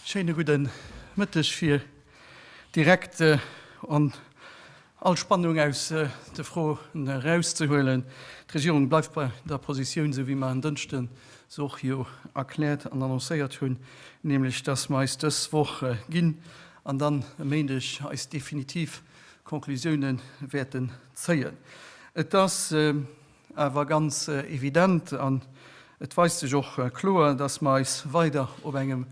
Schéine gudden Mëtteg fir direkt an all Spannung aus de Froen erauszehuelen. D'Regierung bleift bei der Positioun, esou wéi mer en Dënschden se och jo erkläert an annoncéiert hunn, nämlech dass mer eis dës Woch ginn an dann e Méindeg eis definitiv Conclusiounen wäerten zéien. Et ass awer ganz evident an et weist sech och kloer, dass mer eis weider op engem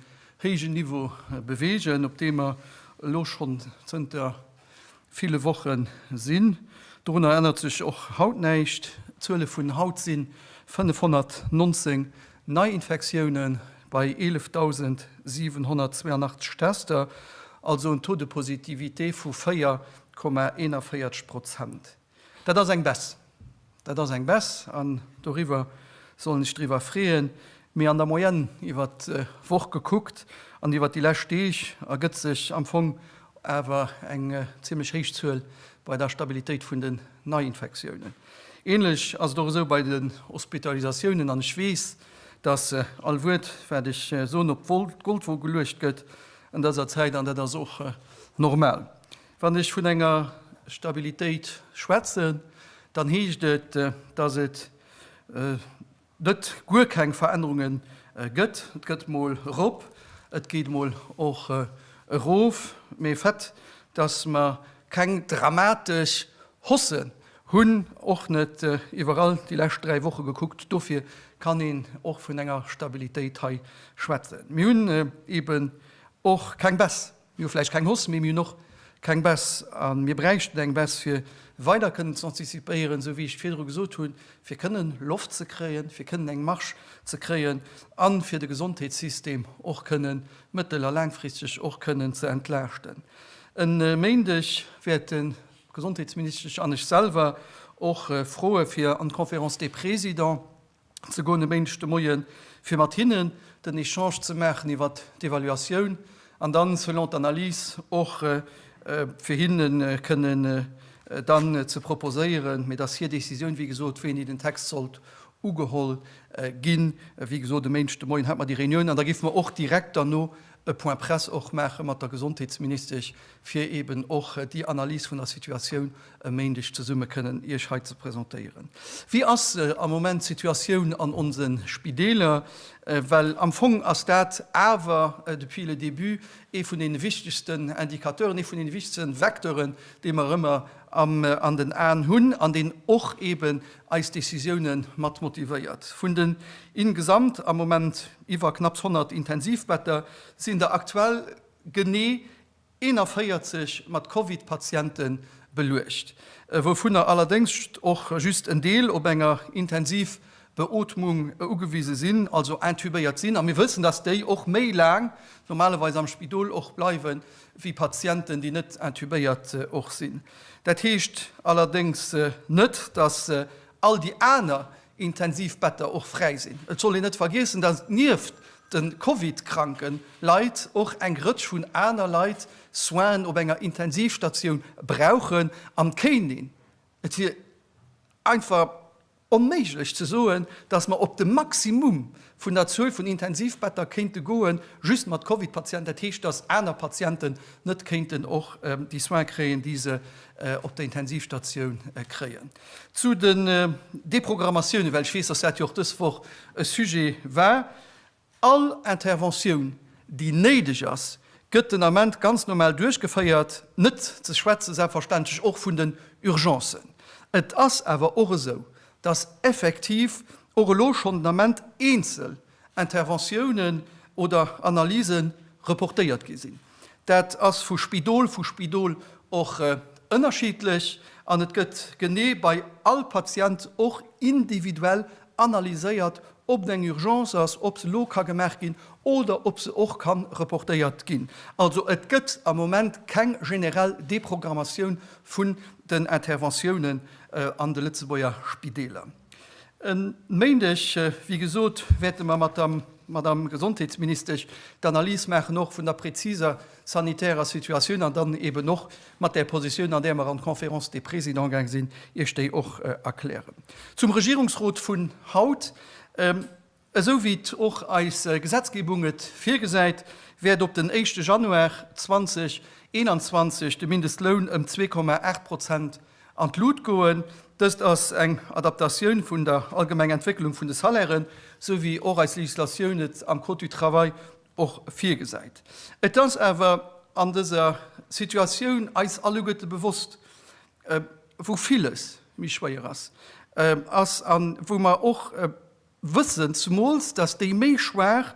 héijen Niveau bewegen, op deem mer elo schonn zënter ville Woche sinn. Dorunner ännert sech och haut näischt. D'Zuele vun haut si 519 Neiinfektioune bei 11.782 Tester, also en Taux de positivité vu 4,41 Prozent. Dat ass eng Baisse. Dat ass eng Baisse an doriwwer sollen ech driwwer freeën. Mee an der Moyenne iwwert d'Woch gekuckt an iwwert déi lescht Deeg ergëtt sech am Fong awer eng zimlech héich Zuel bei der Stabilitéit vun den Neiinfektiounen. Ähnlech ass et och esou bei den Hospitalisatiounen, an ech weess, dass all Wuert, wat ech soen, op d'Goldwoge geluecht gëtt an dëser Zäit, an dat ass och normal. Wann ech vun enger Stabilitéit schwätzen, dann heescht et, dass et net guer keng Verännerunge gëtt. Et gëtt emol erop, et geet emol och erof, mee fait, dass mer keng dramatesch Hausse hunn, och net iwwerall déi lescht dräi Woche gekuckt, dofir kann een och vun enger Stabilitéit hei schwätzen. Mir hunn eeben och keng Baisse. Mir hu vläicht keng Hoss méi, mir hunn och keng Bess. A mir bräichten eng Bess, fir weider kënnen ze antizipéieren, esou wéi ech et virdru gesot hunn, fir kënnen Loft ze kréien, fir kënnen eng Marge ze kréien a fir de Gesondheetssystem och kënnen mëttel a laangfristeg och kënnen ze entlaaschten. E Méindeg wäerte d'Gesondheetsministesch an ech selwer och froe fir an d'Conférence des Présidents, ze goen e Méindeg de Moie fir mat hinnen den Echange ze maachen iwwer d'Evaluatioun an dann selon d'Analys och fir hinne kënnen dann ze proposéieren, mee et ass hir Décisioun, wéi gesot, wéini den Text sollt ugeholl ginn. Wéi gesot, e Méindeg de Moien hate mer déi Reunioun an da géife mer och direkt derno e Point presse och maache mat der Gesondheetsministesch, fir eeben och déi Analys vun der Situatioun e Méindeg zesumme kënnen Iech hei ze presentéieren. Wéi ass am Moment d'Situatioun an onse Spideeler? Well am Fong ass dat awer depuis le début ee vun deene wichtegsten Indicateuren, ee vun deene wichtegsten Vecteuren, dee mer ëmmer an den Aen hunn an deen och eeben eis Décisiounen mat motivéiert. Vun den ingesamt am Moment. Iwwer knapps 100 Intensivbetter sinn der aktuell genee 41 mat Covid-Patiente beluecht, wouvunner allerdéngs och just en Deel op enger Intensivbeootmung ugewise sinn, also intubéiert sinn. A mir wëssen, dass déi och méi laang normalerweis am Spidol och bleiwe wéi Patienten, déi net intubéiert och sinn. Dat heescht allerdéngs net, dass all déi aner, Intensivbetter och fräi sinn. Et soll een net vergiessen, datt et nieft de Covid-kranke Leit och eng Rëtsch vun aner Leit Soinen op enger Intensivstatioun brauchen am Kéining. Et wier einfach onméiglech ze soen, datt mer op de Maximum vun der Zuel vun Intensivbetter kéinte goen, just mat Covid-Patienten, dat heescht, datt aner Patienten net kéinten och déi Soine kréien, déi se op der Intensivstatioun kréien. Zu den Deprogrammatiounen, well ech weess, dass dat jo och dës Woch e Sujet war, All Interventioun, déi néideg ass, gëtt den Ament ganz normal duerchgeféiert, net ze schwätzen selbstverständlech och vun den Urgencen. Et ass awer och esou, dass effektiv och elo schonn den Ament eenzel Interventiounen oder Analyse reportéiert gi sinn. Dat ass vu Spidol vu Spidol och ënnerschiddlech an et gëtt genee bei all Patient och individuell analyséiert, ob et eng Urgence ass, ob se elo ka gemaach ginn oder ob se och ka reportéiert ginn. Also et gëtt am Moment keng generell Deprogrammatioun vun den Interventiounen an de Lëtzebuerger Spideeler. E Méindeg, wéi gesot, wäerte mer mat der Madamm Gesondheetsministesch d'Analys maachen, och vun der präziser sanitärer Situatioun, an dann eeben och mat där Positioun, an där mer an d'Conférence des Présidents gaange sinn, Iech déi och erklären. Zum Regierungsrot vun haut. Esou wéi et och eis Gesetzgebung et virgesäit, wäert op den éischte Januar 2021 de Mindestloun ëm zwee Komma aacht Prozent an d'Lut goen. Dëst ass eng Adaptatioun vun der allgemenger Entwécklung vun de Salairen, esou wéi och eis Legislatioun et am Code du travail och virgesäit. Et ass awer an dëser Situatioun eis alleguerte bewosst, wou villes méi schwéier ass, ass a wou mer och Wëssen, zemools datt déi méi Schwaach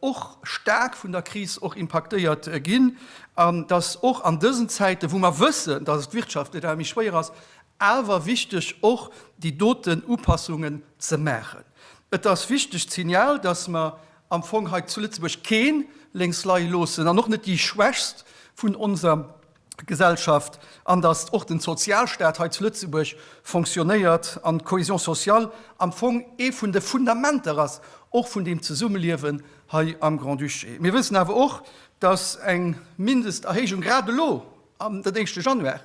och staark vun der Kris och impaktéiert ginn an datt och an dësen Zäiten, wou mer wëssen, datt et wirtschaftlech awer méi schwéier ass, awer wichteg och déi doten Upassungen ze maachen. Et ass wichteg d'Signal, datt mer am Fong hei zu Lëtzebuerg kee lénks leie loossen an och net déi Schwächst vun onser Gesellschaft an datt och de Sozialstaat hei zu Lëtzebuerg fonctionnéiert an d'Cohésion sociale am Fong ee vun de Fundamenter ass, och vun deem Zesummeliewen hei am Grand-Duché. Mir wëssen awer och, datt eng Mindesterhéijung grad elo am den éischte Januar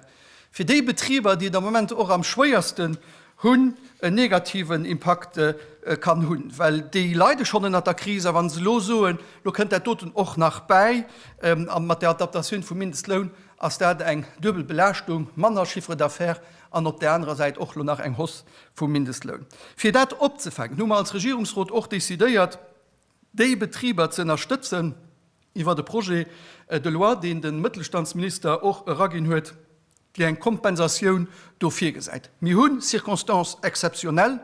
fir déi Betriber, déi et am Moment och am schwéierste hunn, en negativen Impakt kann hunn, well déi leide schonn ënnert der Kris, a wann se elo soen, elo kënnt dat doten och nach bäi, a mat der Adaptatioun vum Mindestloun ass dat eng duebel Belaaschtung, manner Chiffre d'affaires an op där anerer Säit och elo nach eng Hausse vum Mindestloun. Fir dat opzefänken, hu mer als Regierungsrot och decidéiert, déi Betriber ze ënnerstëtzen, iwwert e Projet de loi, deen de Mëttelstandsminister och eraginn huet, déi eng Kompensatioun do virgesäit. Mir hu Circonstances exceptionnelles,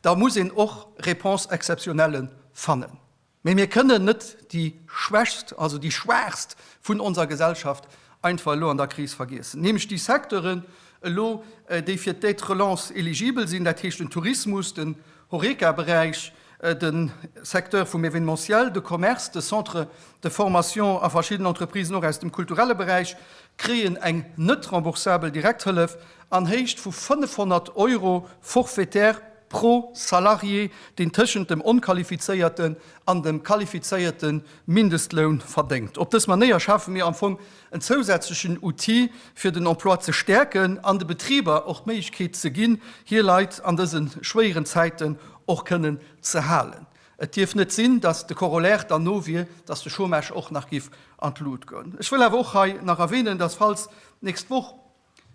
da muss een och Réponses exceptionnelles fannen. Mä mir kënnen net déi Schwächst, also déi Schwaachst vun onser Gesellschaft einfach elo an der Kris vergiessen, nämlech déi Secteuren elo, déi fir d'Aide-relance eligibel sinn, dat heescht den Tourismus, den Horeca-Beräich, de Secteur vum Événementiel, de Commerce, de Centre de formation a verschidden Entreprisen och aus dem kulturelle Beräich kréien eng net remboursabel Direkthëllef an Héicht vu 500 Euro forfaitaire pro Salarié, deen tëschent dem onqualifizéierten an dem qualifizéierte Mindestloun verdéngt. Op dës Manéier schafe mir am Fong en zousätzlechen Outil fir den Emploi ze stäerken an de Betriber och d'Méiglechkeet ze ginn, hir Leit an dëse schwéieren Zäiten och kënnen ze halen. Et dierf net sinn, dass de Corollaire dann no wier, dass de Chômage och nach géif an d'Lut goen. Ech wëll awer och hei nach erwähnen, dass falls d'nächst Woch,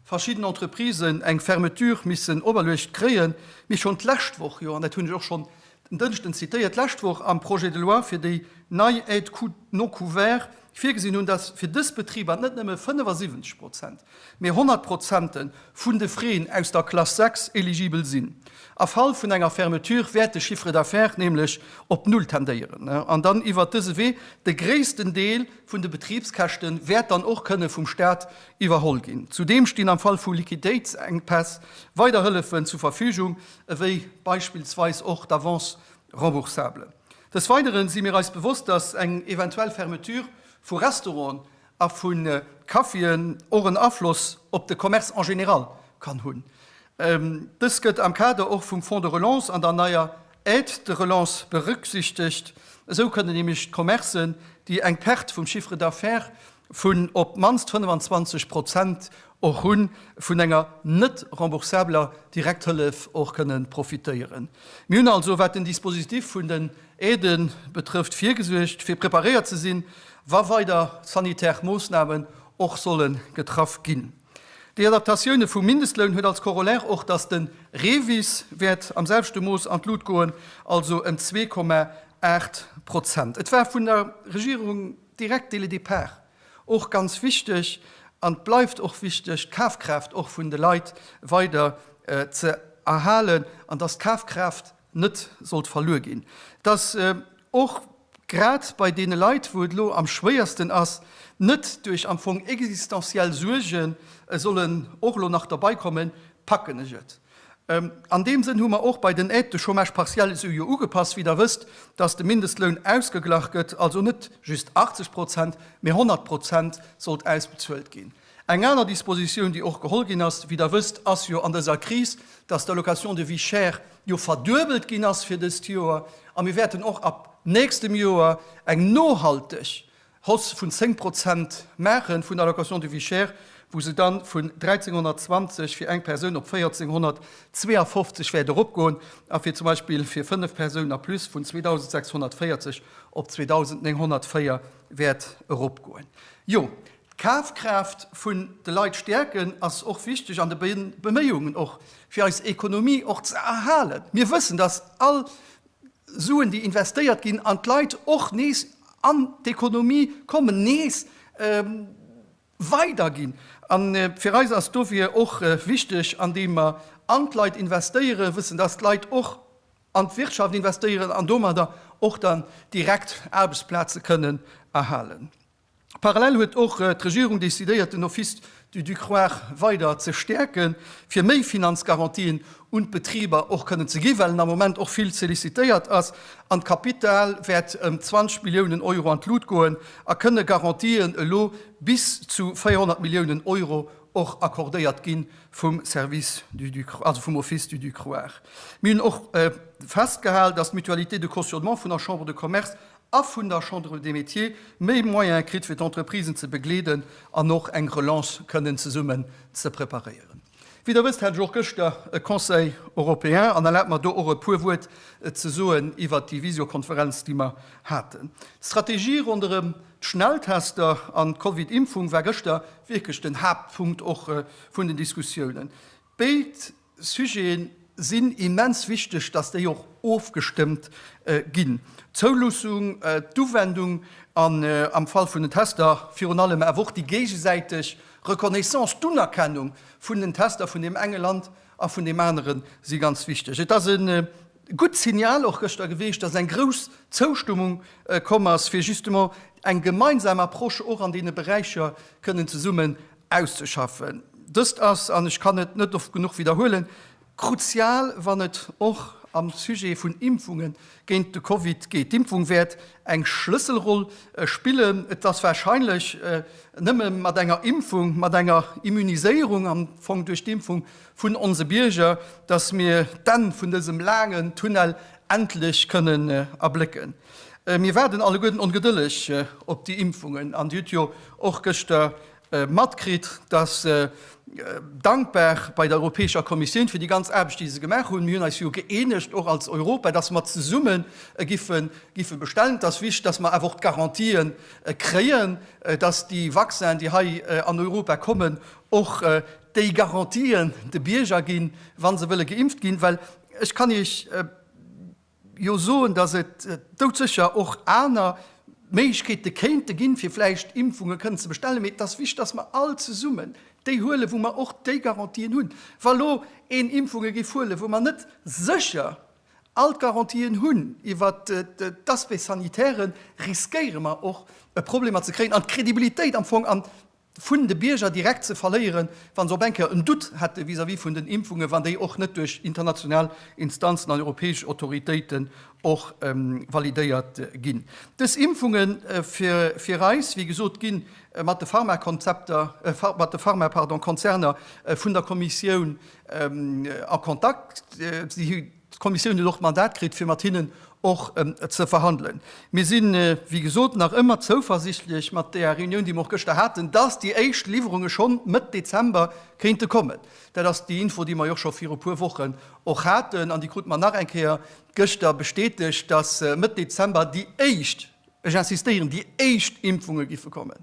verschidden Entreprisen eng Fermeture missen operluecht kréien, mee schonn d'lescht Woch jo, an dat hunn ech och schonn en Dënschden zitéiert, d'lescht Woch am Projet de loi fir déi nei Aide coût non couverts virgesinn hunn, dass fir dës Betriber net nëmme 75 Prozent, mee 100 Prozente vun de Freeën aus der Klass 6 eligibel sinn. A Fall vun enger Fermeture wäert de Chiffre d'affaires nämlech op Null tendéieren an dann iwwert dëse Wee de gréissten Deel vun de Betribskäschte wäert dann och kënne vum Staat iwwerholl ginn. Zudeem stinn am Fall vu Liquiditéitsenkpäss weider Hëllefen zur Verfügung, ewéi beispillsweis och d'Avance remboursable. Des Weidere si mir eis bewosst, dass eng eventuell Fermeture vu Restauranten a vu Caféen och en Afloss op de Commerce en général kann hunn. Dëst gëtt am Kader och vum Fonds de relance an der neier Aide de relance berücksichtegt. Esou kënnen nämlech d'Commercen, déi eng Perte vum Chiffre d'affaires vun op d'mannst 25 Prozent och hu vun enger net remboursabeler Direkthëllef och kënne profitéieren. Mir hunn also, wat den Dispositif vun den Aidë betrëfft, virgesuergt, fir preparéiert ze sinn, wa weider sanitär Moossnamen och solle getraff ginn. Déi Adaptatioune vum Mindestloun huet als Corollaire och, dass de REVIS wäert am selwechte Mooss an d'Lut goen, also ëm zwee Komma aacht Prozent. Et war vun der Regierung Direkt dès le départ, och ganz wichteg, an et bleift och wichteg, d'Kafkraaft och vun de Leit weider ze erhalen an dass d'Kafkraaft net sollt verluer ginn, dass och grad bei deene Leit, wou et elo am schwéiersten ass, net duerch am Fong existenziell Suerge solle och elo nach derbeikommen, packen ech et. An deem Sënn hu mer och bei den Aides de chômage partiel esou jo ugepasst, wéi Der wësst, dass de Mindestloun ausgeglach gëtt, also net just 80 Prozent, mee 100 Prozent sollt ausbezuelt ginn. Eng aner Dispositioun, déi och geholl ginn ass, wéi Der wësst, ass jo an dëser Kris, dass d'Allocation de vie chère jo verduebelt ginn ass fir dëst Joer. A mir wäerten och ab nächstem Joer eng nohalteg Hausse vun 10 Prozent maachen vun der Allocation de vie chère, wou se dann vun 1.320 fir eng Persoun op 1.452 wäert eropgoen a fir zum Beispill fir 5 Persounen a plus vun 2.640 op 2.904 wäert eropgoen. Jo, d'Kafkraaft vun de Leit stäerken ass och wichteg an de Beméiungen och fir eis Ekonomie och ze erhalen. Mir wëssen, dass all Suen, déi investéiert ginn an d'Leit och nees an d'Ekonomie kommen, nees weiderginn. A fir eis ass dofir och wichteg, andeem mer an d'Leit investéiere wëssen, dass d'Leit och an d'Wirtschaft investéieren an domadder och dann direkt Aarbechtsplaze kënnen erhalen. Parallel huet och d'Regierung decidéiert den Office du Ducroix weider ze stäerke fir méi Finanzgarantien un d'Betriber och kënnen ze gi well en am Moment och vill sollicitéiert ass. An d'Kapital wäert ëm 20 Milliounen Euro an d'Lut goen a kënne Garantien elo bis zu 400 Milliounen Euro och accordéiert gi vum Service du Ducroix, also vum Office du Ducroix. Mir hunn och festgehal, datt d'Mutualité de cautionnement vun der Chambre de Commerce a vun der Chambre des Métiers méi Moyene kritt, fir d'Entreprisen ze begleeden an och eng Relance kënnen zesummen ze preparéieren. Wéi Der wësst, hat ech och gëschter e Conseil européen an erlaabt mer, do och e puer Wuert ze soen iwwert déi Visiokonferenz, déi mer haten. D'Strategie ronderëm d'Schnelltester an d'Covid-Impfung war gëschter wierklech den Haaptpunkt och vun den Diskussiounen. Béid Sujeten sinn immens wichteg, dass déi och ofgestëmmt ginn, d'Zoulussung, d'Uwendung an, am Fall vun den Tester, virun allem awer och déi géigesäiteg Reconnaissance, d'Unerkennung vun den Tester vun deem enge Land a vun deem aneren, si ganz wichteg. Et ass e gutt Signal och gëschter gewiescht, dass eng grouss Zoustëmmung komm ass, fir justement eng gemeinsam Approche och an deene Beräicher kënnen zesummen auszeschaffen. Dëst ass, an ech kann et net oft genuch widderhuelen, kruzial, wann et och am Sujet vun Impfunge géint de Covid geet. D'Impfung wäert eng Schlësselroll spillen. Et ass warscheinlech nëmme mat enger Impfung, mat enger Immuniséierung am Fong duerch d'Impfung vun onse Bierger, datt mir d'Enn vun dësem laangen Tunnel endlech kënnen erblécken. Mir waarden alleguerten ongedëlleg op déi Impfungen an Dir hutt jo och gëschter matkritt, dass, dankbar bei der Europäescher Kommissioun fir déi ganz Aarbecht, déi se gemaach hunn, mir hunn eis jo gëeenegt och als Europa, dass mer zesumme giffe bestellen. Et ass wichtig, dass mer awer och d'Garantië kréien, dass déi Vaccinen, déi hei an Europa kommen, och déi Garantië de Bierger ginn, wa se wëlle geimpft ginn, well ech kann Iech, jo soen, dass et doudsécher och aner Méiglechkeete kéinte ginn, fir vläicht Impfunge kënnen ze bestellen, mee et ass wichteg, dass mer all zesummen déi huelen, wou mer och déi Garantien hunn. Wa elo een Impfunge géif huelen, wou mer net sécher all d'Garantien hunn iwwer d'Aspects sanitaires, riskéiere mer och Problemer ze kréien an d'Crédibilitéit am Fong an vun de Bierger direkt ze verléieren, wa se op eng Kéier en Doute hätte vis-à-vis vun den Impfungen, wann déi och net duerch international Instanzen an europäesch Autoritéiten och validéiert ginn. Dës Impfunge fir eis, wéi gesot, gi mat de Pharma-Konzerner vun der Kommissioun a Kontakt. D'Kommissioun huet och d'Mandat kritt, fir mat hinnen och ze verhandelen. Mir sinn, wéi gesot, nach ëmmer zouversichtlech mat där Reunioun, déi mer och gëschter haten, dass déi éischt Liwwerunge scho Mëtt Dezember kéinte kommen. Dat ass déi Info, déi mer jo scho viru puer Wochen och haten, an déi krute mer nach eng Kéier gëschter bestätegt, dass Mëtt Dezember déi éischt, ech insistéieren, déi éischt Impfunge giffe kommen.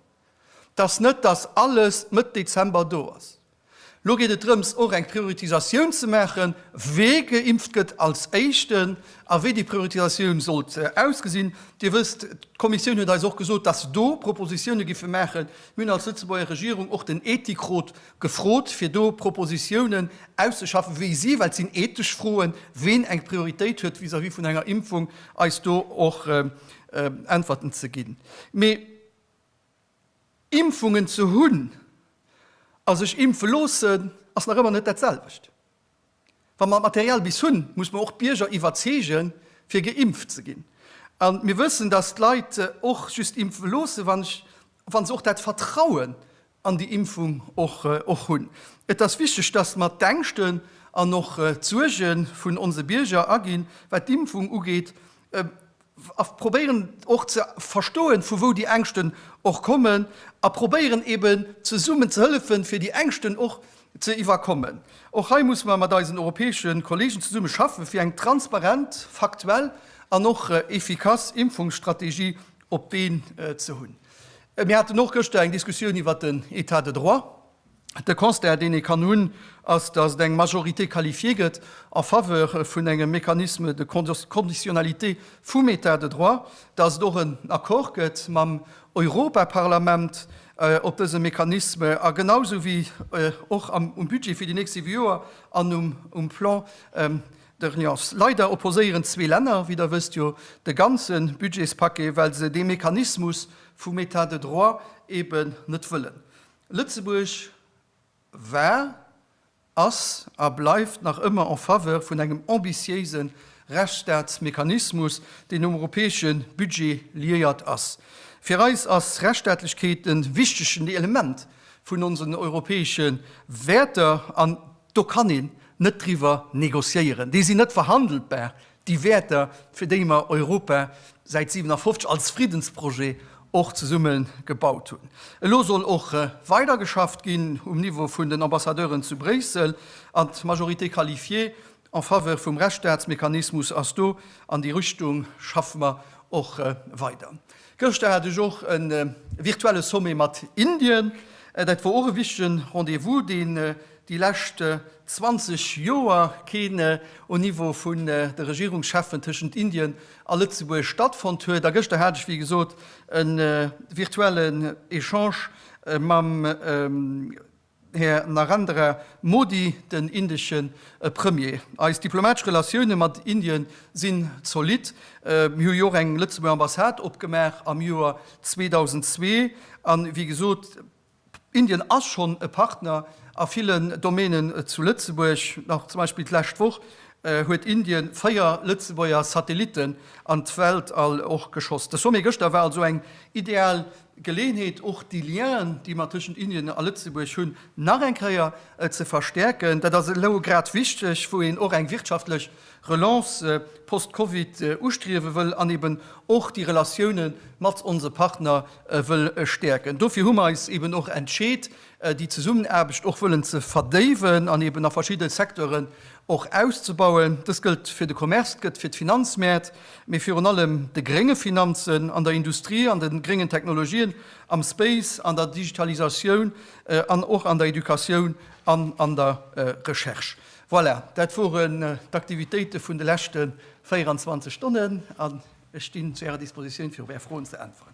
't ass net, dass alles Mëtt Dezember do ass. Elo geet et drëms, och eng Prioritisatioun ze maachen, wee geimpft gëtt als Éischten a wéi déi Prioritisatioun sollt ausgesinn. Dir wësst, d'Kommissioun huet eis och gesot, dass se do Propositioune géife maachen. Mir hunn als Lëtzebuerger Regierung och den Ethikrot gefrot, fir do Propositiounen auszeschaffen, wéi si, well et sinn ethesch Froen, ween eng Prioritéit huet vis-à-vis vun enger Impfung, eis do och Äntwerten ze ginn. Mee Impfungen ze hunn a sech impfe loossen ass nach ëmmer net dat selwecht. Wa mer d'Material bis hunn, muss mer och d'Bierger iwwerzeegen, fir geimpft ze ginn. A mir wëssen, dass d'Leit och just impfe loossen, wann se och dat Vertrauen an déi Impfung och hunn. Et ass wichteg, dass mer d'Ängschten an och d'Suerge vun onse Bierger aginn, wat d'Impfung ugeet, a probéieren och ze verstoen, vu wou déi Ängschten och kommen, a probéieren eben zesummen ze hëllefen, fir déi Ängschten och ze iwwerkommen. Och hei muss mer mat eisen europäesche Kollegen zesumme schaffen, fir eng transparent, faktuell an och effikass Impfungsstrategie op d'Been ze hunn. Mir haten och gëschter eng Diskussioun iwwert den État de droit. De Constat, deen ee kann hunn, ass, dass et eng Majorité qualifiée gëtt en faveur vun engem Mécanisme de conditionnalité vum État de droit, dass et och en Accord gëtt mam Europaparlament op dësem Mécanisme a genausou wéi och um Budget fir déi nächst siwe Joer an um Plan Dr. Nuance, Leider opposéieren zwee Länner, wéi Der wësst, jo de ganze Budgetspaquet, well se dee Mechanismus vum Etat de droit eben net wëllen. Lëtzebuerg war, ass a bleift nach ëmmer en faveur vun engem ambitiéise Rechtsstaatsmechanismus, deen um europäesche Budget liéiert ass. Fir eis ass Rechtsstaatlechkeet e wichtegen Element vun onsen europäesche Wäerter an. Do kann een net driwwer negociéieren, déi sinn net verhandelbar, déi Wäerter, fir déi mer Europa säit 57 als Friddensprojet och zesumme gebaut hunn. Elo soll och weidergeschafft ginn um Niveau vun den Ambassadeuren zu Bréissel, an d'Majorité qualifiée en faveur vum Rechtsstaatsmechanismus ass do, an déi Richtung schaffe mer och weider. Gëschter hat ech och e virtuelle Sommet mat Indien. Dat wor och e wichtegen Rendez-vous, deen déi lescht 20 Joer keen au Niveau vun de Regierungscheffen tëschent Indien a Lëtzebuerg stattfonnt huet. A gëschter hat ech, wéi gesot, e virtuellen Echange mam. Här Narendra Modi, den indesche Premier. Eis diplomatesch Relatioune mat Indien sinn zolidd. Mir hu jo och eng Lëtzebuerger Ambassade opgemaach am Joer 2002. An, wéi gesot, Indien ass schonn e Partner a villen Domänen zu Lëtzebuerg. Nach zum Beispill d'lescht Woch huet Indien véier Lëtzebuerger Satellitten an d'Weltall och geschoss. De Sommet gëschter war also eng ideal Geleeënheet, och déi Liens, déi mer tëschent Indien a Lëtzebuerg hunn, nach eng Kéier ze verstärken. Dat ass elo grad wichteg, wou een och eng wirtschaftlech Relance post-Covid ustriewe wëll an eben och déi Relatioune mat onse Partner wëll stäerken. Dofir hu mer eis eben och entscheet, déi Zesummenaarbecht och wëllen ze verdéiwen an eben a verschidde Secteuren och auszubauen. Dëst gëllt fir de Commerce, et gëtt fir d'Finanzmäert, mee virun allem de grénge Finanzen, an der Industrie, an de gréngen Technologien, am Space, an der Digitalisatioun an och an der Educatioun an an der Recherche. Voilà, dat woren d'Aktivitéite vun de leschte 24 Stonnen, an ech stinn zu Ärer Dispositioun, fir op Är Froen ze äntweren.